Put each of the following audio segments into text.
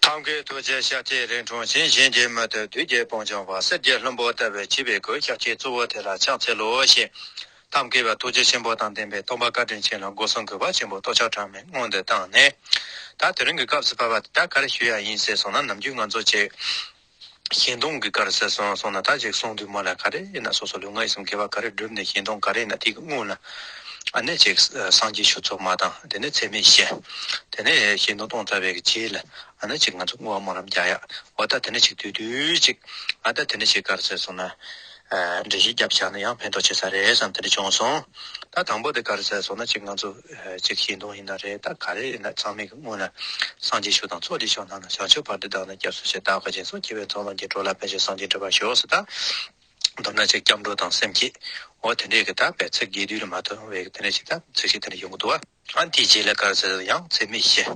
ཐབས་མཁས་ཐུགས་རྗེ་ཤཱཀྱའི་རིགས་འཁྲུངས་ཤིང་གཞན་གྱིས་མི་ཐུབ་དུས་རྒྱལ་སྤུངས་བྱང་བ་གསེར་གྱི་ལྷུན་པོ་བསྟར་བའི་བྱིས་པའི་གོས་ཤཱཀྱའི་གཙོ་བོ་དེ་ལ་ཕྱག་འཚལ་ལོ་ཞེས། ཐབས་མཁས་པ་ཐུགས་རྗེ་ཆེན་པོ་དང་ལྡན་པའི་སྟོང་པ་བཀའ་དྲིན་ཆེན་ལ་སྒོ་གསུམ་གུས་པ་ཆེན་པོས་ལྟོ་ཕྱག་གྲངས་མེད་སྔོན་དུ་བཏང་ནས། ད་དེ་རིང་གི་སྐབས་སུ་བབས་པ་འདི་དག་ག་རེ་ཞུ་ཡག་ཡིན་ཟེར་སོང་ན་ནམ་རྒྱུན་ང་ཚོ་བྱེས་གཞན་སྟོང་གི་གར་ཟེར་སོང་སོང་ན་ད་ཅིག་སོང་དུས་མ་ལ་ག་རེ་ཡིན་ན་སོ་སོ་ལུས་ངག་ཡིད་གསུམ་དགེ་བ་ག་རེ་བསྒྲུབས་ནས་གཞན་སྟོང་ག་རེ་ཡིན་ན་དེ་གི་སྔུན་ལ་ཨ་ནེ་ཅིག་སངས་རྒྱས་ཆོས་ཚོགས་མ་དང་དེ་ནས་ཚད་མེད་བཤད། དེ་ནས་གཞན་སྟོང་སྟོང་རྩ་བའི་གི་རྗེས་ལ་ཨ་ནེ་ཅིག་ང་ཚོ་སྔུན་བ་མོ་རམ་རྒྱག་ཡ་འོ་ད་དེ་ནས་ཅིག་དུས་དུས་ཅིག་ཨ་ད་དེ་ནས་ཅིག་གར་ཟེར་སོང་ན། འདྲེ་བཞི་བརྒྱ་བྱ་ན་ཡང་ཕན་ཐོགས་ཆེ་ས་རེད་བསམ་དེ་འདྲ་བྱུང་སོང་ད་དང་པོ་དེ་ག་རེ་ཟེར་སོང་ན་གཅིག་ང་ཚོ་གཅིག་ཤེས་མདོག་ཡིན་ན་རེད་ད་ག་རེ་ཡིན་ན་ཚང་མས་ཀྱི་སྔུན་ལ་སངས་རྒྱས་ཤོག་དང་ཚོགས་སྡེ་ཤོག་ནང་ན་བྱང་ཆུབ་བར་དུ་བདག་ན་སྐྱབས་སུ་ཆེད་བདག་ག་ཅན་སོགས་སྐྱེ་བའི་ཚོགས་ལོངས་སྐྱེ་འགྲོ་ལ་ཕན་ཆེད་སངས་རྒྱས་འདྲི་བར་ཤོག་སོ་ད་མདོར་ན་ཆེད་སྐྱབས་འགྲོ་དང་སེམས་བསྐྱེད་འོ་དེ་འདྲས་ཀྱི་ད་བས་ཚིག་རྒྱས་བསྡུས་ལ་མ་ཐོན་བས་དེ་འདྲས་ཆེད་ད་ཚིག་ཤིག་དེ་འདྲས་ཡོང་གི་འདུག་བ། ཨང་དེའི་རྗེས་ལ་གར་ཟེར་ན་ཡང་ཚད་མེད་བཞི།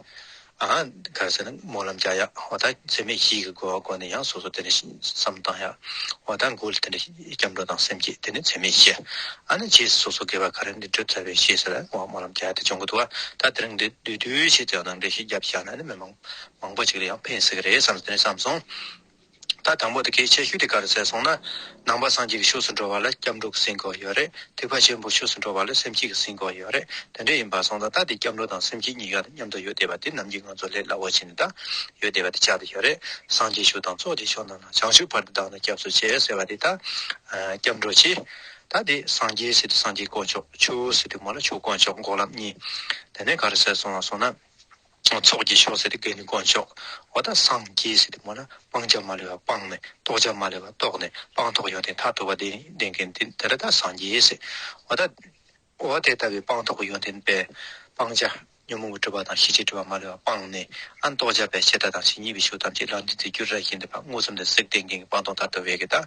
ཨང། གར་ཟེར་ན་སྨོན་ལམ་བརྒྱ་ཡག་འོ་ད་ཚད་མེད་བཞི་གི་དགོས་བ་དགོས་ནས་ཡང་སོ་སོ་དེ་འདྲ་བསམ་བཏང་ཡག་འོ་ད་མགོ་ལ་དེ་འདྲ་སྐྱབས་འགྲོ་དང་སེམས་བསྐྱེད་དེ་ནི་ཚད་མེད་བཞི། ཨ་ན་རྗེས་སུ་སོ་སོ་དགེ་བ་ག་རེ་འདི་བསྒྲུབ་ཚར་བའི་ཤེས་ཟེར་ན་ངོ་སྨོན་ལམ་བརྒྱ་དེ་སྦྱོང་གི་འདུག་ད་དེ་རིང་འདི་བསྡུས་དུས་ཆེད་དུ་ཡང་ནང་འདྲེན་ཞིག་བརྒྱབ་བཞག་ན་ནི་མི་མང་མང་པོ་ཞིག་ལ་ཡང་ཕན་སྲིད་གི་རེད་བསམ་ནས་བསམ་སོང། ད་དང་པོ་དེ་གའི་ཆེ་ཤོས་དེ་ག་རུ་བཙལ་སོང་ན། ནང་པ་སངས་རྒྱས་ཀྱི་ཕྱོགས་སུ་འགྲོ་བ་ལ་སྐྱབས་འགྲོ་གི་སེམས་དགོས་ཡོད་རེད་ཐེག་པ་ཆེན་པོའི་ཕྱོགས་སུ་འགྲོ་བ་ལ་སེམས་བསྐྱེད་ཀྱི་སེམས་དགོས་ཡོད་རེད་དེ་འདྲ་ཡིན་པར་སོང་ཙང་ད་དེ་སྐྱབས་འགྲོ་དང་སེམས་བསྐྱེད་གཉིས་ཀ་དང་མཉམ་དུ་ཡོད་བསྡད་པ་དེ་ནམ་གྱི་ང་ཚོ་ལས་སླ་བོ་བྱས་ནས་ད་ཡོད་བསྡད་པ་དེ་ཆགས་བསྡད་ཡོད་རེད་སངས་རྒྱས་ཕྱོགས་དང་ཚོགས་ཀྱི་ཕྱོགས་རྣམས་ན་བྱང་ཆུབ་བར་དུ་བདག་ནི་སྐྱབས་སུ་བྱེད་ཟེར་བ་དེ་ད་སྐྱབས་འགྲོ་བྱེད། ད་དེ་སངས་རྒྱས་ཟེར་དུས་སངས་རྒྱས་དཀོན་མཆོག་ཆོས་ཟེར་དུས་མོ་ལ་ཆོས་དཀོན་མཆོག་འགོག་ལམ་གཉིས་དེ་ནི་ག་རུ་བཙལ་སོང་ང་སོང་ན། ཚོགས་ཀྱི་མཆོག་ཟེར་ཏེ་བཀའི་ནི་དཀོན་མཆོག། འོ་ད་སངས་རྒྱས་ཟེར་ཏེ་སྨྲ་ན་སྤང་བྱ་མ་ལུས་པ་སྤངས་ནས་རྟོགས་བྱ་མ་ལུས་པ་རྟོགས་ནས་སྤངས་རྟོགས་ཡོན་ཏན་མཐར་ཐུག་པ་དེ་ནི་བདེན་གནས་དེ་དེ་ད་ད་སངས་རྒྱས་ཟེར། འོ་ད། འོ་དེ་ལྟ་བུའི་སྤངས་རྟོགས་ཀྱི་ཡོན་ཏན་པས། སྤང་བྱ། ཉོན་མོངས་པའི་སྤྲོས་པ་དང་ཤེས་བྱའི་སྤྲོས་པ་མ་ལུས་པ་སྤངས་ནས། ཨ་རྟོགས་བྱ་བས་ཞེ་ད་དང་ཞེ་གཉིས་པའི་ཤུགས་ཐམས་ཅད་ལམ་འདི་ཚེ་འགྱུར་ར་བཞིན་དེ་བར་མངོན་སུམ་དུ་གཟིགས་བདེན་གནས་ཀྱི་སྤངས་རྟོགས་མཐར་ཐུག་བས་ཀྱི་ད།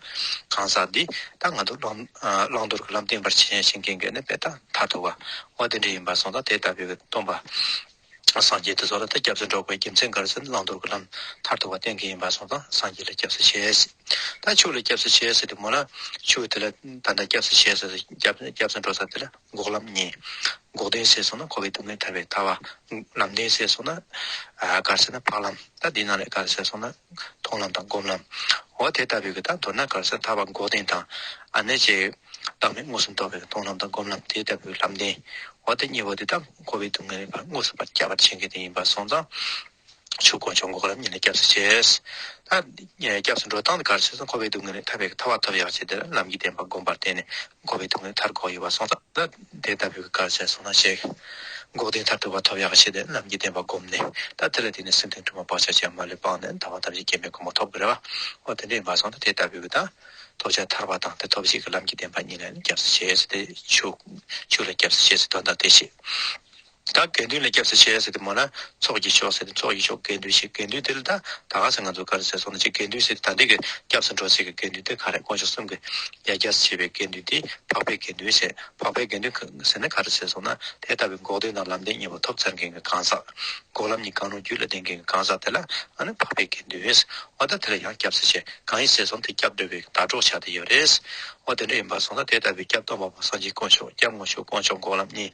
གང་ཟག་འདི། ད་ང་དུ་བླང་དོར་གྱི་ལམ་བསྟན་པར་བྱེད་བཞིན་གནས་པས་ད་མཐར་ཐུག་པ། འོ་དེ་འདྲ་ཡིན་པར་སོང་ད་དེ་ལྟ་བུའི་སྟོང་པ། སངས་རྒྱས་དེ་ཚོ་ལ་ད་སྐྱབས་སུ་འགྲོ་དགོས་རྒྱུ་མཚན་གར་སོན་བླང་དོར་གྱི་ལམ་ཐར་ཐུག་པ་བསྟན་གྱི་ཡིན་པར་སོང་ཙང་སངས་རྒྱས་ལ་སྐྱབས་སུ་ཆས་སྲིད་ད་ཕྱུགས་ལ་སྐྱབས་སུ་ཆས་སྲིད་དུ་མོ་ལ་ཕྱུགས་དེ་ལ་ད་ད་སྐྱབས་སུ་ཆས་སྲིད་སྐྱབས་སུ་འགྲོ་ས་དེ་ལ་འགོག་ལམ་གཉིས་འགོག་དོན་སེལ་སོང་ན་འཁོར་བའི་སྡུག་བསྔལ་ཐར་བའི་ཐར་བ། ལམ་དོན་སེལ་སོང་ན་གར་སེལ་ན་འཕགས་ལམ་ད་འདི་རྣམས་ལས་གར་སེལ་སོང་ན། མཐོང་ལམ་དང་སྒོམ་ལམ། འོ་དེ་ལྟ་བུའི་གི་དང་མདོར་ན་གར་སར་ཐར་བ་འགོག་བདེན་དང། ཨ་ནེ་ཅེ། བདག་མེད་དངོས་སུ་འདོགས་པའི་གི་མཐོང་ལམ་དང་སྒོམ་ལམ་དེ་ལྟ་བུའི་ལམ་བདེན། འོ་དེ་གཉིས་པོ་དེ་དག་འཁོར་བའི་སྡུག་བསྔལ་བར་དངོས་སུ་བར་བསྐྱབ་པར་བྱེད་མཁན་དེ་ཡིན་པར་སོང་ཙང། ཆོས་དཀོན་མཆོག་འགོག་ལམ་གཉིས་ལ་སྐྱབས་སུ་བྱེད། ད། སྐྱབས་སུ་འགྲོ་སྟངས་དེ་གར་སོས་སུ་འཁོར་བའི་སྡུག་བསྔལ་ལས་ཐར་བའི་གི་ཐར་བ་ཐོབ་ཡག་བྱེད་དེ་ལ་ལམ་གྱི་བདེན་པ་སྒོམ་པར་བརྟེན་ནས་འགོ་བའི་སྡུག་བསྔལ་མཐར་འགོག་ཡོད་པར་གསུངས་སོ། ད་དེ་ལྟ་བུའི་གར་ཆེན་སོང་ན་གཤེགས། འགོག་བདེན་མཐར་ཐུག་པ་ཐོབ་ཡག་ཤེས་དེ་རྣམས་ཀྱིས་བདེན་པ་བསྒོམས་ནས། ད་དེ་ལ་བརྟེན་ནས་སེམས་དོན་དྲུག་མ་བག་ཆགས་ཅན་མ་ལུས་སྤངས་ནས་ད་བར་དམ་ཚིག་སྐྱེ་མེད་གོང་མ་ཐོབ་དགོས་རེད་བ། འོ་དེ་འདྲ་ཡིན་པར་སོང་ན་དེ་ལྟ་བུའི་གི་དང། ཐོབ་བྱ་ཐར་བ་དང་དེ་ཐོབ་བྱེད་ཀྱི་ལམ་གྱི་བདེན་པ་གཉིས་ལ་ནི་སྐྱབས་སུ་བྱེད་ཟེར་ཏེ། ཆུག། ཆུག་ལ་སྐྱབས་སུ་བྱེད་ཟེར་དོན་དང་དེ་བཞིན། དེ་དག་དགེ་འདུན་ལ་སྐྱབས་སུ་མཆི་ཟེར་ཏེ་སྨྲ་ན། ཚོགས་ཀྱི་མཆོག་ཟེར་ཏེ་ཚོགས་ཀྱི་མཆོག་དགེ་འདུན་ཞིག་དགེ་འདུན་དེ་ལ་ད་ད་ག་ཚེ་ང་ཚོ་ག་རེ་ཟེར་སོང་ན་ཅིག་དགེ་འདུན་ཟེར་ཏེ་ད་འདི་གི་སྐྱབས་སུ་འགྲོ་ཟེར་གི་དགེ་འདུན་དེ་ག་རེ་དཀོན་མཆོག་གསུམ་གི་ཡ་སྐྱར་སུ་བྱེད་པའི་དགེ་འདུན་དེ་འཕགས་པའི་དགེ་འདུན་ཟེར་འཕགས་པའི་དགེ་འདུན་ཟེར་ན་ག་རེ་ཟེར་སོང་ན་དེ་ལྟ་བུའི་འགོག་བདེན་དང་ལམ་བདེན་གཉིས་པོ་ཐོབ་ཚར་མཁན་གྱི་གང་ཟག། འགོག་ལམ་གཉིས་གང་རུང་རྒྱུད་ལ་ལྡན་མཁན་གྱི་གང་ཟག་དེ་ལ་ཨ་ནི་འཕགས་པའི་དགེ་འདུན་ཟེར་བ་ད་དེ་ལ་ཡང་སྐྱབས་སུ་མཆི་གང་ཡིན་ཟེར་སོང་དེ་སྐྱབས་འགྲོ་བའི་ཟླ་གྲོགས་ཆགས་ཏེ་ཡོད་རེད། འོ་དེ་འདྲ་ཡིན་པར་སོང་ན་དེ་ལྟ་བུའི་སྐྱབས་སྟོང་པ་པོ་སངས་རྒྱས་དཀོན་མཆོག་སྐྱབས་དངོས་མཆོག་དཀོན་མཆོག་འགོག་ལམ་གཉིས།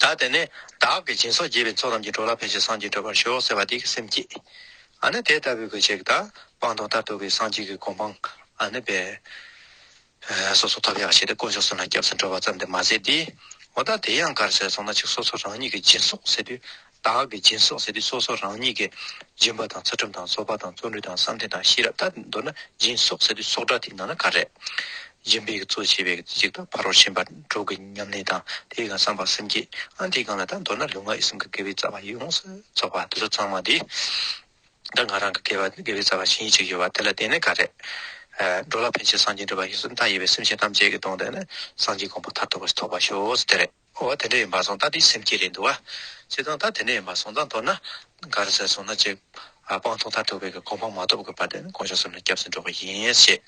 བདག་དེ་ནས་བདག་གི་སྦྱིན་སོགས་རྒྱས་པའི་ཚོགས་ཐམས་ཅད་གྲོལ་ལ་ཕལ་ཆེར་སངས་རྒྱས་གྲོལ་བར་ཤོག་ཟེར་བ་དེ་གི་སེམས་བསྐྱེད། ཨ་ནི་དེ་ལྟ་བུའི་གོས་ཆེ་གི་དག་སྤང་དང་ལྟར་དོགས་ཀྱི་སངས་རྒྱས་ཀྱི་གོ་འཕང་ཨ་ནི་འབད། སོ་སོ་ཐབས་ཡག་བྱས་ཏེ་དཀོན་མཆོག་གསུམ་ལ་སྐྱབས་སུ་འགྲོ་བ་ཙམ་དེ་མ་ཟད་དེ། འོ་ད་དེ་ཡང་གར་ཟེར་སོང་ན་ཅིག་སོ་སོ་རང་ཉིད་ཀྱི་སྦྱིན་སོགས་ཟེར་དུས་བདག་གི་སྦྱིན་སོགས་ཟེར་དུས་སོ་སོ་རང་ཉིད་ཀྱི་སྦྱིན་པ་དང་ཚུལ་ཁྲིམས་དང་རྩོལ་བ་དང་བརྩོན་འགྲུས་དང་བསམ་གཏན་དང་ཤེས་རབ་ད་མདོར་ན་སྦྱིན་སོགས་ཟེར་དུས་སོགས་སྒྲ་དེ་ནང་ན་ག་རེ། སྦྱིན་པའི་གཙོ་བྱས་པའི་གཅིག་དང་ཕ་རོལ་ཕྱིན་པ་དྲུག་གི་ཉམས་ལེན་དང་དེའི་གང་བསམ་པ་སེམས་བསྐྱེད་ཨང་དེའི་སྒང་ལ་ད་མདོར་ན་ལུས་ངག་ཡིད་གསུམ་གྱི་དགེ་བའི་རྩ་བ་ཡོངས་སུ་རྫོགས་པ་དེ་ཚོ་ཚང་མ་དེ་ད་ང་རང་གི་དགེ་བའི་རྩ་བ་ཆེན་གཅིག་ཡོད་པ་དེ་ལ་བརྟེན་ནས་ག་རེ། འགྲོ་ལ་ཕན་བྱེད་སངས་རྒྱས་འགྲུབ་པ་ཞིག་སུ་མཐའ་ཡས་པའི་སེམས་ཅན་ཐམས་ཅད་ཀྱི་དོན་དེ་ནི་སངས་རྒྱས་དགོངས་པ་མཐར་ཐུག་པ་ཞིག་ཐོབ་པར་ཤོག་ཟེར་ཏེ་རེད། ཨོ་བ་དེ་འདྲ་ཡིན་པ་སོང་ད་དེའི་སེམས་སྐྱིད་རེད་འདུག་བ། བྱས་ཙང་ད་དེ་འདྲ་ཡིན་པ་སོང་ད་མདོར་ན་ག་རེ་ཟེར་སོང་ན་ཅེས་པང་ཐོག་མཐར་ཐུག་བོད་ཀྱི་གོ་འཕང་མ་ཐོབ་དགོས་པ་དེ་གོང་ཞོག་གསུངས་ནས་སྐྱབས་སུ་འགྲོ་གི་ཡིན་བཤད།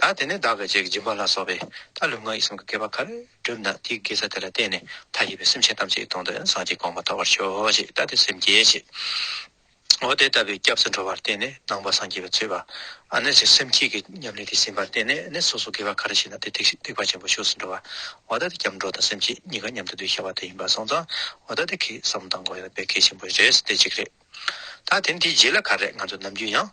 ད་དེ་ནས་བདག་གི་རྗེས་ཀྱི་སྦྱིན་པ་ལ་སོགས་པས་ད་ལུས་ངག་ཡིད་གསུམ་གྱི་བསྐལ་པ་ག་རེ་བསྒྲུབས་ན་དེའི་དགེ་རྩ་དེ་ལ་བརྟེན་ནས་མཐའ་ཡས་པའི་སེམས་ཅན་ཐམས་ཅད་ཀྱི་དོན་དུ་ཡང་སངས་རྒྱས་གོང་མ་ཐོབ་པར་ཤོག་ཅེས་ད་དེ་སེམས་སྐྱིད་བྱེད། འོ་དེ་ལྟ་བུའི་སྐྱབས་སུ་འགྲོ་བར་བརྟེན་ནས་ནང་པ་སངས་རྒྱས་པའི་ཚུལ་བ་ཨ་ནི་ཅིག་སེམས་བསྐྱེད་ཀྱི་ཉམས་ལེན་དེ་ཟིན་པར་བརྟེན་ནས་ནི་སོ་སོ་དགེ་བ་ག་རེ་བྱས་ན་དེ་ཐེག་ཐེག་པ་ཆེན་པོ་ཞུགས་སུ་འགྲོ་བ་འོ་ད་དེ་སྐྱབས་འགྲོ་དང་སེམས་བསྐྱེད་གཉིས་ཀ་མཉམ་དུ་འདུས་ཤེས་པ་དེ་ཡིན་པར་སོང་ཙང་འོ་ད་དེ་ཁེགས་སམ་དང་དགོས་ན་དཔེ་གལ་ཆེན་པོ་རེད་དེ་གཅིག་རེད། ད་དེ་འདིའི་རྗེས་ལ་ག་རེ་ང་ཚོ་ནམ་རྒྱུན་ཡང།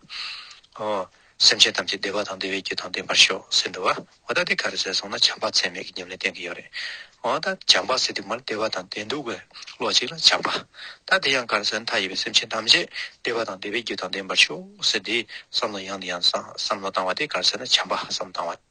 སེམས་ཅན་ཐམས་ཅད་བདེ་བ་དང་བདེ་བའི་རྒྱུ་དང་ལྡན་པར་ཤོག་ཟེར་འདུག་བ་འོ་ད་དེ་ག་རེ་ཟེར་སོང་ན་བྱམས་པ་ཚད་མེད་ཀྱི་ཉམས་ལེན་བསྟན་གྱི་ཡོད་རེད་འོ་ད་བྱམས་པ་ཟེར་དུས་མར་བདེ་བ་དང་ལྡན་འདུག་བས་ལོག་ཅིག་ལ་བྱམས་པ་ད་དེ་ཡང་ག་རེ་ཟེར་ན་མཐའ་ཡས་པའི་སེམས་ཅན་ཐམས་ཅད་བདེ་བ་དང་བདེ་བའི་རྒྱུ་དང་ལྡན་པར་ཤོག་ཟེར་དེའི་བསམ་བློ་ཡང་དེ་ཡང་བསམ་བློ་བཏང་བ་དེ་ག་རེ་ཟེར་ན་བྱམས་པ་བསམ་བློ་བཏང་བ།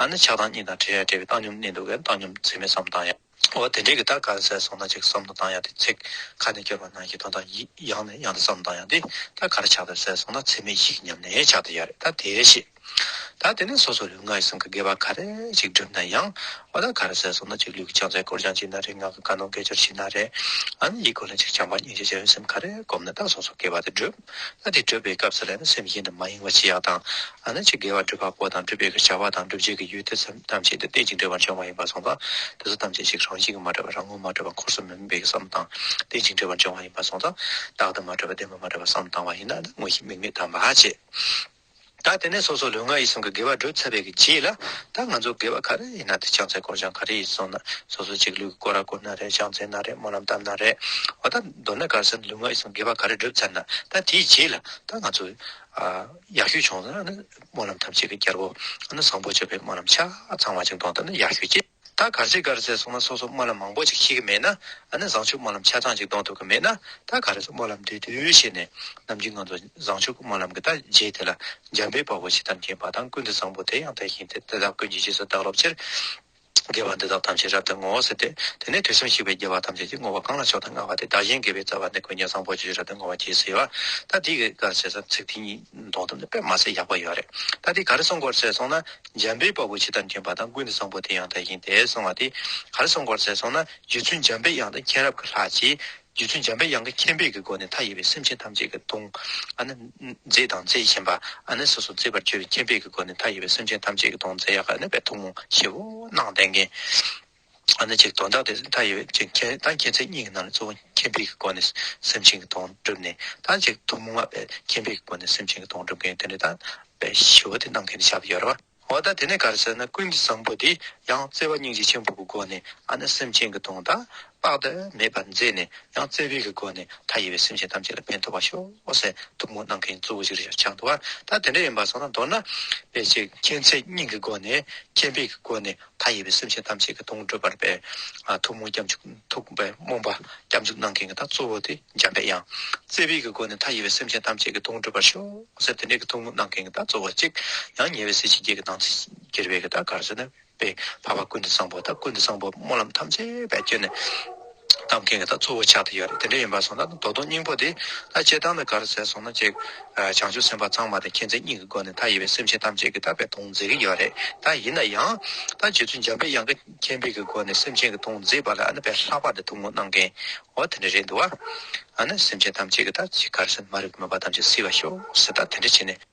ང་ནི་ཆགས་སྡང་གཉིས་དང་བྲལ་ཡང་བྲལ་བའི་བཏང་སྙོམས་གནས་འདུག་གས་བཏང་སྙོམས་ཚད་མའི་སམ་བཏང་ཡ། འོ་དེ་འདྲའི་གི་ད་ག་ཟེ་སོང་ན་ཅིག་བསམ་དུ་བཏང་ཡ་དེ་ཚེག་ཁ་ནས་སྐྱོར་བ་ནང་གི་དོན་དག་ཡིག་ཡང་ནས་ཡང་དུ་བསམ་བཏང་ཡ་དེ་ད་ག་ར་ཆགས་ཐུབ་ཟེ་སོང་ན་ཚད་མའི་ཡིག་ཉམས་ནས་ཆགས་ཐུབ་ཡ་རེད་ད་དེ་ཤེས། ད་དེ་ནས་སོ་སོ་ལུས་ངག་ཡིད་གསུམ་གི་དགེ་བ་ག་རེ་ཞིག་བསྒྲུབ་ན་ཡང་འོ་ད་ག་ར་ཟེ་སོང་ན་ཅིག་ལུས་ཀྱི་བྱང་ཚད་སྐོར་སྦྱང་བྱས་ན་རེད་ངག་གི་བཀའ་གནང་དགེ་སྦྱོར་བྱས་ན་རེད་ཨ་ནི་ཡིད་སྐོར་ལ་ཅིག་བྱམས་པ་སྙིང་རྗེ་བྱ་བའི་སེམས་ག་རེ་བསྒོམ་ན་ད་སོ་སོ་དགེ་བ་དེ་བསྒྲུབ། ལྷ་དེ་བགྲོད་པའི་སྐབས་སུ་ལས་ན་སེམས་གཞན་དུ་མ་གཡེང་བར་ཅི་ཡག་དང། ཨ་ན་ཅི་དགེ་བ་སྒྲུབ་པ་པོ་དང་སྒྲུབ་པའི་བྱ་བ་དང་སྒྲུབ་བྱེད་ཀྱི་ཡུལ་དེ་སེམས་ཐམས་ཅད་དུ་གཏད་ཅིང་འབྲལ་བར་འབྱུང་བ་ཡིན་པར་གསུངས་པ། དེ་སོགས་ཐམས་ཅད་ཞིག་རང་བཞིན་གྱིས་མ་འདྲ་བ་རང་ངོ་མ་འདྲ་བ་འཁོར་གསུམ་མི་དམིགས་པའི་གསུམ་དང་གཏད་ཅིང་འབྲལ་བར་འབྱུང་བ་ཡིན་པར་གསུངས་སོ། རྟག་ཏུ་མ་འདྲ་བ་བདེན་པ་མ་འདྲ་བ་གསུམ་དང་བ་ཡིན་ན་ནི་དངོས་གཞི་དམིགས་མེད་དམ་བར་བྱེད། ད་དེ་ནས་སོ་སོ་ལུས་ངག་ཡིད་གསུམ་གྱི་དགེ་བ་བསྒྲུབ་ཚར་བའི་རྗེས་ལ། ད་ང་ཚོ་དགེ་བ་ག་རེ་ཡིན་ན་དེ་བྱང་ཚད་བསྐོར་བྱང་ག་རེ་ཡིན་སོང་ན་སོ་སོ་གཅིག་ལུས་ཀྱི་བསྐོར་ར་བསྐོར་ན་རེད་བྱང་ཚད་ན་རེད་སྨོན་ལམ་བཏབ་ན་རེད། འོ་ད་མདོར་ན་གར་སོན་ལུས་ངག་ཡིད་གསུམ་དགེ་བ་ག་རེ་བསྒྲུབ་ཚར་ན་ད་དེའི་རྗེས་ལ་ད་ང་ཚོ། ཡག་ཤོས་བྱུང་ན་ཨ་ནི་སྨོན་ལམ་ཐམས་ཅད་ཀྱི་རྒྱལ་པོ། ཨ་ནི་བཟང་པོ་བྱེད་པའི་སྨོན་ལམ་ཆ་ཚང་བ་ཅིག་འདོན་ཐུབ་ན་ཡག་ཤོས་ཀྱི། ད་གར་ཚེ་གར་ཚེ་སོང་ན་སོ་སོ་སྨོན་ལམ་མང་པོ་ཅིག་ཤེས་ཀྱི་མེད་ན་ཨ་ནི་བཟང་ཕྱུག་སྨོན་ལམ་ཆ་ཚང་ཅིག་གཏོང་ཐུབ་ཀྱི་མེད་ན་ད་ག་རེ་སོང་སྨོན་ལམ་འདི་དུས་ཤེས་ནས་ནམ་རྒྱུན་ང་ཚོ་བཟང་ཕྱུག་སྨོན་ལམ་གྱི་ད་རྗེས་དེ་ལ་འཇམ་པའི་དཔའ་བོ་ཆེ་དམ་ཅན་འབའ་ཐང་ཀུན་ཏུ་བཟང་པོ་དེ་ཡང་དེ་བཞིན་དེ་དེ་དག་ཀུན་གྱི་རྗེས་སུ་བདག་སློབ་ཕྱིར། དགེ་བ་འདི་དག་ཐམས་ཅད་རབ་ཏུ་བསྔོའོ་ཟེར་ཏེ་དེ་ནས་དུས་གསུམ་གཤེགས་པའི་རྒྱལ་བ་ཐམས་ཅད་ཀྱིས་བསྔོ་བ་གང་ལ་ཕྱོགས་དང་མངའ་བ་དེ་བདག་གཞན་དགེ་བའི་རྩ་བ་འདི་ཀུན་ཀྱང་བཟང་པོ་ཆེ་ཞེས་རབ་ཏུ་བསྔོ་བ་གྱིས་ཟེར་བ་ད་འདི་གར་ཚེ་ཚིག་འདི་ཉིད། མདོག་དང་དཔེ་མ་ཚད་ཡག་པོ་ཡོད་རེད་ད་དེ་ག་རེ་གསུང་སྐོར་ཚད་སོང་ན་འཇམ་པའི་དཔའ་བོ་ཕྱི་དར་འགྱིང་བ་དང་ཀུན་ནས་བཟང་པོ་དེ་ཡང་དག་ཡིན་དེ་གསུང་བ་དེ་ག་རེ་གསུང་སྐོར་ཚད་སོང་ན་རྗེ་བཙུན་འཇམ་པའི་དབྱངས་དང་མཁྱེན་རབ་ཀྱི་ལྷག་བཅས་རྗེ་བཙུན་འཇམ་པའི་དབྱངས་ཀྱི་མཁྱེན་དཔལ་གྱི་སྒོ་ནས་མཐའ་ཡས་པའི་སེམས་ཅན་ཐམས་ཅད་ཀྱི་གདུང་ཨ་ནི་མཛེས་དང་མཛེས་ཆེན་པ་ཨ་ནི་སོ་སོ་མཛེས་པར་བྱེད་པའི་མཁྱེན་དཔལ་གྱི་སྒོ་ནས་མཐའ་ཡས་པའི་སེམས་ཅན་ཐམས་ཅད་ཀྱི་གདུང་མཛེས་ཡག་ཨ་ནི་པའི་ཐུགས་དམུ་བཞི་བོ་གནང་གཏད་མཁན། ཨ་ནི་ཅིག་དོན་དག་དེ་ལྟར་ཡོད་ཅིག་མཁྱེན་ད་མཁྱེན་ཚེ་གཉིས་ཀྱི་ནང་ནས་གཙོ་བོ་མཁྱེན་པའི་སྒོ་ནས་སེམས་ཅན་གྱི་དོན་བསྒྲུབས་ནས་ད་ཅིག་ཐུན་མོང་མ་པའི་མཁྱེན་པའི་སྒོ་ནས་སེམས་ཅན་གྱི་དོན་བསྒྲུབ་མཁན་དེ་ནི་དམ་པའི་ཞི་བ་དེ་གནང་མཁན་ཞབས་ཡོར་བ། འོ་ད་དེ་ནས་གར་ཟེར་ན་ཀུན་གྱི་བཟང་པོ་དེས་ཡང་བརྩེ་བ་སྙིང་རྗེ་ཆེན་པོ་གི་སྒོ་ནས་ཨ་ནི་སེམས་ཅན་གྱི་དོན་དག་དཔག་ཏུ་མེད་པར་མཛད་ནས་ཡང་བརྩེ་བའི་གི་སྒོ་ནས་མཐའ་ཡས་པའི་སེམས་ཅན་ཐམས་ཅད་ལ་ཕན་ཐོགས་པར་ཤོག་ཟེར་ཐུན་མོང་གནང་མཁན་གཙོ་བོ་གཞིར་བཞག་ཆགས་འདུག་བ་ད་དེ་འདྲ་ཡིན་པར་སོང་ན་མདོར་ན། པའི་ཅིག་མཁྱེན་ཚེ་གཉིས་ཀྱི་སྒོ་ནས་མཁྱེན་པའི་གི་སྒོ་ནས་མཐའ་ཡས་པའི་སེམས་ཅན་ཐམས་ཅད་ཀྱི་གདུང་བགྲོད་པར་པའི། ཐུགས་རྨོངས་སྐྱབས་འཇུག་ཐུགས་པའི་རྨོངས་པ་སྐྱབས་འཇུག་གནང་མཁན་གྱི་ད་གཙོ་བོ་དེ་འཇམ་པའི་དབྱངས། རྩེ་བས་ཀྱི་སྒོ་ནས་མཐའ་ཡས་པའི་སེམས་ཅན་ཐམས་ཅད་ཀྱི་གདུང་བགྲོད་པར་ཤོག་ཟེར་དེ་འདྲའི་ཀྱི་ཐུགས་རྨོངས་གནང་མཁན་གྱི་ད་གཙོ་བོ་གཅིག། ཡང་ཉེ་བའི་གཟི་བྱིན་བརྒྱད་ཀྱི་དང་ཚིག་གྱེར་བས་ཀྱི་ད་གར་ཟེར་ན། པའི་བར་བར་ཀུན་ཏུ་བཟང་པོ་ད་ཀུན་ཏུ་བཟང་པོ་སྨོན་ལམ་ཐམས་ཅད་བས་བསྐྱེད་ནས། རྟ་མཁན་གྱི་ད་གཙོ་བོ་ཕྱག་དེ་ཡོད་རེད་དེ་འདྲ་ཡིན་པར་སོང་ན་རྡོ་དོང་སྙིང་པོ་དེ་ད་སྤྱད་སྟངས་དང་ག་རུ་ཟེར་སོང་ན་ཅིག་བྱང་ཆུབ་སེམས་དཔའ་ཚང་མ་དེ་མཁྱེན་བརྩེ་གཉིས་ཀྱི་སྒོ་ནས་ད་ཡིད་པའི་སེམས་ཅན་ཐམས་ཅད་ཀྱི་ད་པའི་དོང་མཛད་ཀྱི་ཡོད་རེད་ད་ཡིན་ན་ཡང་ད་རྗེ་བཙུན་འཇམ་པའི་དབྱངས་ཀྱི་མཁྱེན་པའི་གྱི་སྒོ་ནས་སེམས་ཅན་གྱི་དོང་མཛད་པ་ལ་ཨ་ན་བས་ལྷག་པར་དུ་ཐུགས་སྨོན་གནང་གིན་འོ་དེ་འདྲ་རེད་འདུག་བ། ཨ་ན་སེམས་ཅན་ཐམས་ཅད་ཀྱི་ད་ཅིག་ག་རུ་ཟེར་ན་མ་རིག་པའི་མོས་པ་ཐམས་ཅད་བསིལ་བར་ཤོག་ཟེར་ད་དེ་འདྲ་བྱས་ནས།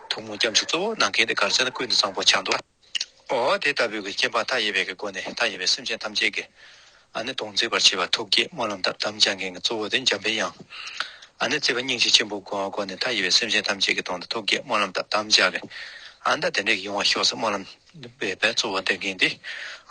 ཐུགས་མོ་སྐྱབས་འཇུག་གཙོ་བོར་གནང་མཁན་དེ་གར་ཆགས་ན་ཀུན་ཏུ་གཙང་པོ་ཆགས་འདུག་ཨོ། དེ་ལྟ་བུའི་གྱི་སྐྱེ་འཕགས་མཐའ་ཡས་པའི་གི་སྒོ་ནས་མཐའ་ཡས་པའི་སེམས་ཅན་ཐམས་ཅད་ཀྱི། ཨ་ནི་དོང་བརྩེགས་པར་བྱེད་པ་ཐུགས་བསྐྱེད་སྨོན་ལམ་དག་དམ་བཅའ་མཁན་གྱི་གཙོ་བོ་དེ་འཇམ་དཔལ་དབྱངས། ཨ་ནི་བརྩེ་བ་སྙིང་རྗེ་ཆེན་པོའི་སྒོ་སྒོ་ནས་མཐའ་ཡས་པའི་སེམས་ཅན་ཐམས་ཅད་ཀྱི་དོང་དུ་ཐུགས་བསྐྱེད་སྨོན་ལམ་དག་དམ་བཅའ་གི། ཨ་མདའ་དེ་འདྲས་ཀྱི་ཡོང་བ་ཤོག་ས་སྨོན་ལམ། བས་པས་གཙོ་བོ་འདེབས་མཁན་དེ་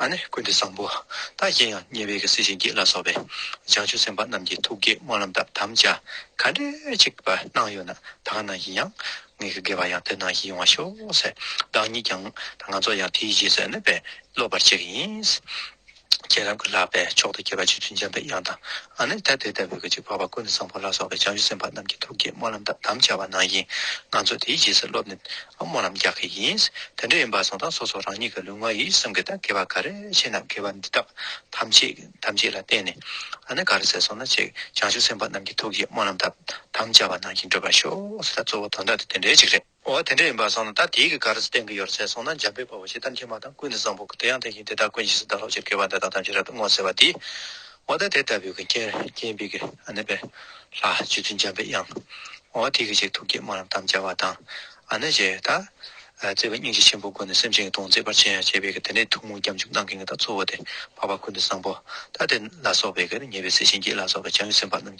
ཨ་ནི་ཀུན་ཏུ་བཟང་པོ་བདག་བསྐྱེད་ཡང་ཉེ་བའི་གེ་སེར་གཤིན་རྗེ་ལ་སོགས་པའི་བྱང་ཆུབ་སེམས་དཔའ་རྣམས་ཀྱི་ཐུགས་བསྐྱེད་སྨོན་ལམ་དག་དམ་བཅའ་ག་འདྲའི་ཆིག་པ་གནང་ཡོད་ན་ད་ག་ནང་བཞིན་ཡང་ངེད་ཀྱི་དགེ་བ་ཡང་དེ་ནང་བཞིན་ཡོང་བ་ཤོག་ཟེར་བདག་ཉིད་ཀྱང་ད་ང་ཚོ་ཡང་དེའི་རྗེས་སུ་ཨ་ནི་བས་སློབ་པར་བྱེད་ཀྱི་ཡིན། ཁྱེད་རང་གི་ལག་པས་མཆོག་ཏུ་དགྱེས་པ་ཆུ་རྒྱུན་འཇམ་པའི་དབྱངས་དང། ཨ་ནནྡ་ཏའི་ལྟ་བུའི་སྐད་ཅིག་འཕགས་པ་ཀུན་ཏུ་བཟང་པོ་ལ་སོགས་པའི་བྱང་ཆུབ་སེམས་དཔའ་རྣམས་ཀྱི་ཐུགས་བསྐྱེད་སྨོན་ལམ་དག་དམ་བཅའ་བ་ནང་བཞིན་ང་ཚོས་དེའི་རྗེས་སུ་སློབ་ནས་སྨོན་ལམ་རྒྱག་གི་ཡིན། དེ་འདྲ་ཡིན་པ་སོང་ཙང་སོ་སོ་རང་ཉིད་ཀྱི་ལུས་ངག་ཡིད་གསུམ་གྱི་དང་དགེ་བ་ག་རེ་བྱས་ན་དགེ་བ་འདི་དག་ཐམས་ཅད་དམ་ཚིག་ལ་བརྟེན་ནས་ཨ་ནནྡ་ག་རེ་ཟེར་སོང་ན་ཅིག་བྱང་ཆུབ་སེམས་དཔའ་རྣམས་ཀྱི་ཐུགས་བསྐྱེད་སྨོན་ལམ་དག་དམ་བཅའ་བ་ནང་བཞིན་བགྲོད་པར་ཤོག་ཟེར་ད་གཙོ་བོ་དོན་དག་དེ་དེ་འདྲའི་ཅིག་རེད། འོ་དེ་འདྲ་ཡིན་པར་སོང་ན་ད་དེའི་གི་ག་རེ་ས་སྟེང་གི་ཡོར་ཚད་སོང་ན་འཇམ་པའི་བ་བ་ཞེས་གཏམ་ཁྱད་མ་དང་ཀུན་ནས་བཟང་པོ་གི་དེ་ཡང་དེ་བཞིན་དེ་དག་ཀུན་གཞི་ས་བདག་ལྷོ་ཕྱིར་སྐྱེ་བ་འདི་དག་ཐམས་ཅད་རབ་ཏུ་བསྔོ་ཟེར་བ་འདི། འོ་ད་དེ་ལྟ་བུའི་གི་རྐྱེན་རྐྱེན་པའི་གི་ཨ་ནི་པའི། ལྷ་སྤྱི་མཐུན་འཇམ་པའི་དབྱངས། འོ་དེའི་གི་ཞེས་ཐུགས་བསྐྱེད་སྨོན་ལམ་དམ་བཅའ་བ་དང། ཨ་ནི་ཞེས་ད། བརྩེ་བའི་སྙིང་རྗེ་ཆེན་པོའི་སྒོ་ནས་སེམས་ཅན་གྱི་དོན་མཛད་པར་བྱེད་ཡང་བྱེད་པའི་གི་དེ་ནས་ཐུགས་དངོས་སྐྱབས་འཇུག་གནང་མཁན་གྱི་དག་གཙོ་བོ་དེ་བ་བ་ཀུན་ནས་བཟང་པོ་ད་དེ་ལ་སོགས་པའི་གི་ཉེ་བའི་སྲས་བྱིན་གྱིས་ལ་སོགས་པའི་བྱང་ཆུབ་སེམས་དཔའ་རྣམས།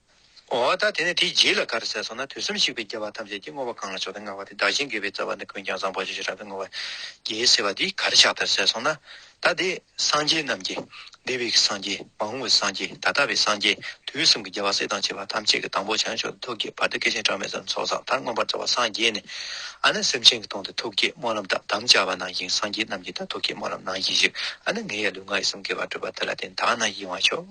འོ་ད་དེ་ནས་དེའི་རྗེས་ལ་ག་རེ་ཟེར་སོང་ན་དུས་གསུམ་ཞིག་པའི་རྒྱལ་བ་ཐམས་ཅད་ཀྱིས་བསྔོ་བ་གང་ལ་ཕྱོགས་ཏེ་བསྔགས་པ་དེ་བདག་གཞན་དགེ་བའི་རྩ་བ་ནི་ཀུན་ཀྱང་བཟང་པོ་ཆེ་ཞེས་རབ་ཏུ་བསྔོ་བ་རྒྱལ་ཟེར་བ་འདི་ག་རེ་ཕྱག་དར་ཟེར་སོང་ན། ད་དེ་སངས་རྒྱས་རྣམས་ཀྱི། བདེ་བའི་གི་སངས་རྒྱས་མ་འོངས་བའི་སངས་རྒྱས་ད་ལྟ་བའི་སངས་རྒྱས་དུས་གསུམ་གྱི་རྒྱལ་བ་སྲས་དང་བཅས་པ་ཐམས་ཅད་ཀྱི་དང་པོ་བྱང་ཕྱོགས་ཏེ་ཐུགས་བསྐྱེད་བར་དུ་སྐལ་ཆེན་གྲངས་མེད་ཙམ་ཚོགས་བསགས་མཐར་མངོན་པར་རྩ་བ་སངས་རྒྱས་ནས་ཨ་ནི་སེམས་ཅན་གྱི་དོན་དུ་ཐུགས་བསྐྱེད་སྨོན་ལམ་དག་དམ་བཅའ་བ་ནང་བཞིན་སངས་རྒྱས་རྣམས་ཀྱི་ད་ཐུགས་བསྐྱེད་སྨོན་ལམ་ནང་བཞིན་བཞུགས་ཨ་ནི་ངའི་ཡ་ལུས་ང་ཡི་གསུམ་གའི་བར་གྲུབ་པ་དེ་ལ་བརྟེན་དག་ན་ཡིད་དབང་ཕྱོགས།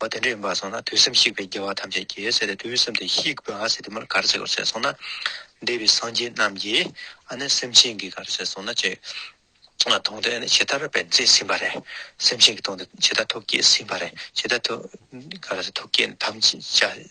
བ་དེ་འདྲ་ཡིན་པར་སོང་ན་དུས་སེམས་བཤིག་པའི་རྒྱལ་བ་ཐམས་ཅད་ཀྱིས་ཟེར་ཏེ་དུས་སེམས་དེ་བཤིག་པའི་ཟེར་དེ་མོར་ག་རེ་བྱེད་དགོས་ཟེར་སོང་ན། འདས་པའི་སངས་རྒྱས་རྣམས་ཀྱིས་ཨ་ནི་སེམས་ཅན་གྱིས་ག་རེ་བྱེད་སོང་ན་ཅི། དོང་དེ་ཨ་ནི་ཇི་ལྟར་བས་མཛེས་ཟིན་པ་རེད། སེམས་ཅན་གྱི་དོང་དེ་ཇི་ལྟར་ཐུགས་བསྐྱེད་ཟིན་པ་རེད་ཇི་ལྟར་ཐུགས། ག་རེ་ཟེར་ཐུགས་བསྐྱེད་དམ་བཅའ།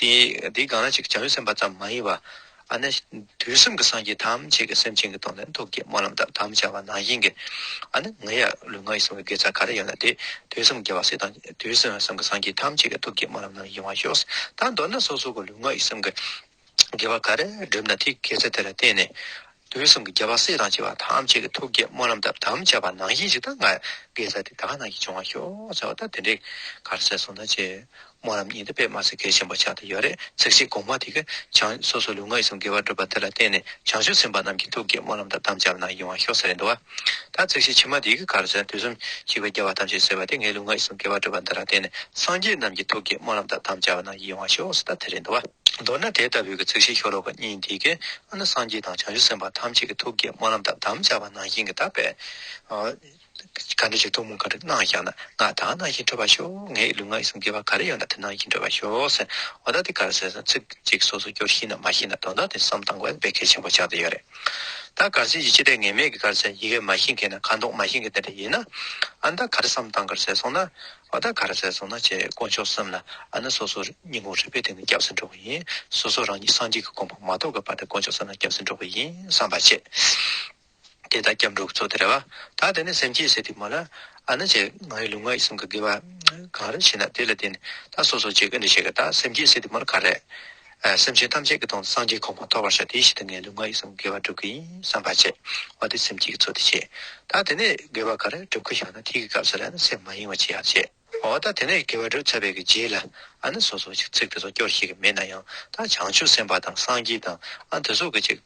དེ་དེ་གང་ལ་ཅིག་བྱ་བའི་སེམས་པ་ཙམ་མ་ཡིན་པ། ཨ་ནི། དུས་གསུམ་གྱི་སངས་རྒྱས་ཐམས་ཅད་ཀྱི་སེམས་ཅན་གྱི་དོན་ལ་ཐུགས་བསྐྱེད་སྨོན་ལམ་དག་དམ་བཅའ་བ་ནང་བཞིན་གྱི། ཨ་ནི། ང་ཡང་ལུས་ངག་ཡིད་གསུམ་གྱི་དགེ་རྩ་ག་རེ་ཡིན་ལ་དེ་དུས་གསུམ་རྒྱལ་བ་སྲས་དང་དུས་གསུམ་གསུམ་གྱི་སངས་རྒྱས་ཐམས་ཅད་ཀྱི་ཐུགས་བསྐྱེད་སྨོན་ལམ་ནང་བཞིན་དབང་ཤོག། ད་མདོར་ན་སོ་སོ་གི་ལུས་ངག་ཡིད་གསུམ་གྱི། དགེ་བ་ག་རེ་བསྒྲུབས་ན་དེའི་དགེ་རྩ་དེ་ལ་བརྟེན་ནས། དུས་གསུམ་གྱི་རྒྱལ་བ་སྲས་དང་བཅས་པ་ཐམས་ཅད་ཀྱི་ཐུགས་བསྐྱེད་སྨོན་ལམ་དག་དམ་བཅའ་བ་ནང་བཞིན་ཅིག་ཐང་ང་གའི་ས་དེ་ད་ག་ན་གྱིས་བྱུང་བ་ཤོག་ཟེར་བ་ལྟར་དེ་འདྲའི་གར་གསལ་གསུང་དང་བཅས་སྨོན་ལམ་གཉིས་འདི་པད་མ་སེར་སྐྱའི་ཆེན་པོ་ཕྱག་ཏུ་ཡོད་རེ་ཚིག་བཞིན་གོང་མ་དེ་གའི་བྱང་སོ་སོ་ལུས་ངག་ཡིད་གསུམ་དགེ་བར་བསྒྲུབས་པ་དེ་ལ་བརྟེན་ནས་བྱང་ཆུབ་སེམས་དཔའ་རྣམས་ཀྱི་ཐུགས་བསྐྱེད་སྨོན་ལམ་དག་དམ་བཅའ་བ་ནང་བཞིན་འོང་ཤོག་ཟེར་རེ་འདུག་བ། ད་ཚིག་བཞི་ཕྱི་མ་དེ་གའི་གར་སོན་དུས་གསུམ་གཅིག་པའི་རྒྱལ་བ་ཐམས་ཅད་གསོལ་བ་དེ་ངའི་ལུས་ངག་ཡིད་གསུམ་དགེ་བ་བསྒྲུབ་པ་འདི་ལ་བརྟེན་ནས་སངས་རྒྱས་རྣམས་ཀྱི་ཐུགས་ཀྱི་སྨོན་ལམ་དག་དམ་བཅའ་བ་ན་ཡིད་དབང་ཞུགས་སུ་ད་དེ་རེ་འདུག་བ། མདོར་ན་དེ་ལྟ་བུའི་ཚིག་བཞི་ཤོ་ལོ་ཀ་གཉིས་འདི་གའི་ཨ་ན་སངས་རྒྱས་དང་བྱང་ཆུབ་སེམས་དཔའ་ཐམས་ཅད་ཀྱི་ཐུགས་ཀྱི་སྨོན་ལམ་དག་དམ་བཅའ་བ་ནང་བཞིན་གྱི་དག་པའི། ག་འདྲ་ཞིག་ཐུགས་སྨོན་ག་འདྲ་གནང་བཞག་ན་ང་དག་ནང་བཞིན་འཕྲོད་པར་ཤོག་ངའི་ལུས་ངག་ཡིད་གསུམ་དགེ་བ་ག་རེ་ཡོད་ན་དེ་ནང་བཞིན་འཕྲོད་པར་ཤོག་ཟེར་འོ་ད་དེ་གར་སོན་སོང་ཚིག་གཅིག་སོ་སོ་སྐྱོར་ཤེས་ན་མ་ཤེས་ན་དོན་དག་དེ་བསམ་སྟངས་དགོས་པ་དཔེ་གལ་ཆེན་པོ་ཆགས་ཏེ་ཡོད་རེད། ད་གར་ཟེར་གྱི་ཅི་སྟེ་ངེས་མེད་ཀྱི་གར་ཟེར་ཡི་གེ་མ་ཤེས་མཁན་ནི་ཁ་མདོག་མ་ཤེས་མཁན་དེ་འདྲ་ཡིན་ན། ཨ་ད་གར་བསམ་སྟངས་གར་ཟེར་སོང་ན། འོ་ད་གར་ཟེར་སོང་ན་ཅེས་དཀོན་མཆོག་གསུམ་ལ་ཨ་ན་སོ་སོ་སྙིང་ཁོང་རུས་པའི་སྟེང་ནས་སྐྱབས་སུ་འགྲོ་གི་ཡིན། སོ་སོ་རང་ཉིད་སངས་རྒྱས་ཀྱི་དགོངས་པ་མ་རྟོགས་ཀྱི་བར་དུ་དཀོན་མཆོག་གསུམ་ལ་སྐྱབས་སུ་འགྲོ་གི་ཡིན་བསམ་པ་བྱེད། དེ་ལྟར་སྐྱབས་འགྲོ་གི་ཚོགས་དེ་རེ་བ། ད་དེ་ནས་སེམས་བསྐྱེད་ཟེར་དུས་མ་ལ། ཨ་ན་ཅེས་ང་ཡི་ལུས་ངག་ཡིད་གསུམ་གྱི་དགེ་བ། གང་རེ་བྱས་ན་དེ་ལ་བརྟེན་ནས་ད་སོ་སོ་ཅེས་ག་འདྲ་བྱེད་ཀྱི་ད་སེམས་བསྐྱེད་ཟེར་དུས་མ་ལ་ག་རེ། སེམས་ཅན་ཐམས་ཅད་ཀྱི་དོན་དུ་སངས་རྒྱས་གོང་མ་ཐོབ་བར་བྱ། དེའི་ཕྱིར་དུ་ངས་ལུས་ངག་ཡིད་གསུམ་དགེ་བ་བསྒྲུབ་ཀྱི་ཡིན་བསམ་པར་བྱེད། འོ་དེ་སེམས་ཅན་གྱི་ཚོགས་དེ་ཆེ། ད་དེ་ནས་དགེ་བ་ག་རེ་བསྒྲུབ་ཀྱི་ཡོད་ན་དེ་ཡི་སྐབས་སུ་ལན་སེམས་མ་གཡེང་བ་ཅི་ཡང་བྱེད། འོ་ད་དེ་ནས་དགེ་བ་བསྒྲུབ་ཚར་བའི་གི་རྗེས་ལ། ཨ་ནི་སོ་སོ་ཅིག་ཚིག་དེ་ཚོ་སྐྱོར་ཤེས་ཀྱི་མེད་ན་ཡང་ད་བྱང་ཆུབ་སེམས་དཔའ་དང་སངས་རྒྱས་དང་ཨ་དེ་ཚོ་གི་ཅིག།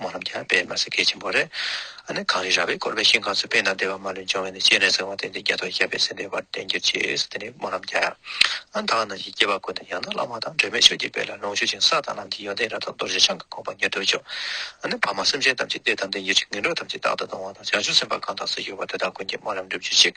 མོ་རྣམས་ཀྱང་པདྨ་སེང་གེ་ཆེན་པོ་རེ་ཨ་ནི་གངས་རི་ར་བས་བསྐོར་བའི་ཤིང་ཁང་ཚུ་བས་ན་བདེ་བ་མ་ལུས་འབྱུང་བས་ནི་སྤྱན་རས་གཟིགས་དབང་ལྡན་འདས་རྒྱ་མཚོ་ཞབས་པད་ཟིན་པའི་བར་བརྟན་གྱུར་ཅིག་གསོལ་ཏེ་ནི་མོ་རྣམས་ཀྱང་ཨ་མདའ་རྣམས་ཀྱིས་སྐྱེ་བ་ཀུན་ཏུ་ཡང་དག་བླ་མ་དང་སྒྲོལ་མའི་ཆོས་ཀྱི་དཔལ་ལ་ལོངས་སྤྱོད་ཅིང་ས་དང་ལམ་གྱི་ཡོན་ཏན་རབ་དང་རྡོ་རྗེ་འཆང་གི་ཁོག་པ་ཉེར་བསྡོགས་མཆོག་ཨ་ནི་བར་མ་སེམས་ཅན་ཐམས་ཅད་བདེ་དང་ལྡན་གྱུར་ཅིག་ངན་འགྲོ་ཐམས་ཅད་རྟག་ཏུ་སྡང་བ་དང་བྱང་ཆུབ་སེམས་དཔའ་གང་དག་སུ་ཡོད་པ་དེ་དག་ཀུན་གྱིས་སྨོན་ལམ་འགྲུབ་གྱུར་ཅིག།